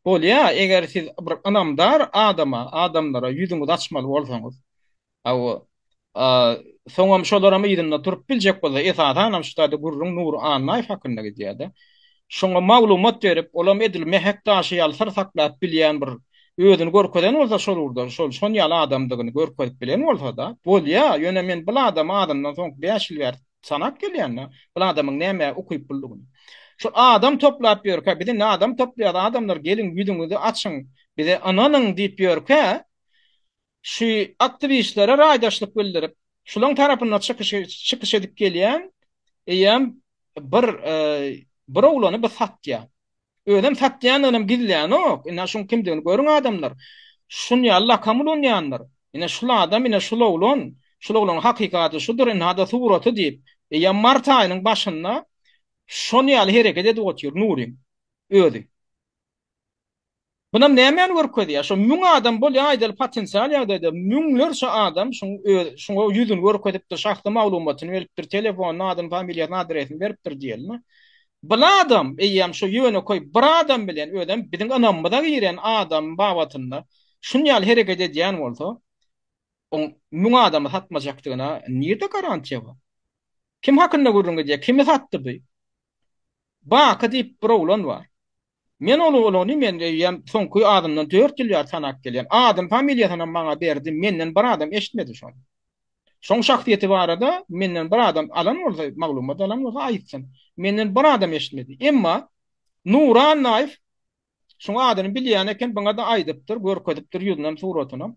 Bolýa, eger siz bir ynamdar adama, adamlara ýüzüňizi açmaly bolsaňyz. Hawa. Soňam şolaram yzynda turup biljek bolsa, esasanam şu taýda gürrüň Nury Annaýew hakynda gidýär-de. Şoňa maglumat berip, olam edil Mehek daşy ýaly syr saklap bilýän bir özüni görkezen bolsa şol ugurda, şol şon ýaly adamdygyny görkezip bilen bolsa-da, bolýa, ýöne men bul adamy azyndan soňky bäş ýyl bäri Sanap gelýändir. Bul adamyň nämä ukyp buldugyny. Şul adam toplap ýörkä, biz indi adam toplaýas, adamlar geliň ýüzüňizi açyň, bize ynanyň diýip ýörkä, şu aktiwistlere raýdaşlyk bildirip, şulaň tarapynda çykyş çykyş edip gelýän eýýäm bir bir oglany biz satýa. Özem satýanynam gizlänok. Ine şuň kimdigini görüň adamlar. Şun ýaly lakam ulanýandyr. Ine şul adam, ine şul oglan. Şul oglanyň hakyky ady şudur, ynha-da suraty diýip. Eýýäm mart aýynyň başynda şon ýaly hereket edip otyr Nuryň özi. Bunam nämäni görkezýär? Şo müň adam bolýan aýdaly potensial ýagdaýda müňlerçe adam şuň öz şuňa ýüzüni görkezipdir, şahsy maglumatyny beripdir, telefonyny, adyny, familiýasyny, adresini beripdir diýeli. Bul adam eýýäm şo ýönekeý bir adam bilen özem biziň ynamymyza giren adam babatynda şun ýaly hereket edýän bolsa, oň müň adamy satmajakdygyna nirde garantiýa bar? Kim hakynda gürrüň gidýär? Kimi satdy bu? Baky diýip bir oglan bar. Men ol ogluny men öýýäm soňky adymdan dört ýyl bäri tanap gelýän. Adyn familiýasynam maňa berdi, menden bir adam eşitmedi şony. Şoň şahsyýeti barada menden bir adam alan bolsa, maglumat alan bolsa aýtsyn. Menden bir adam eşitmedi. Emma Nury Annaýew şuň adyny bilýän eken, buňa-da aýdypdyr, görkezipdir ýüzünem, suratynam.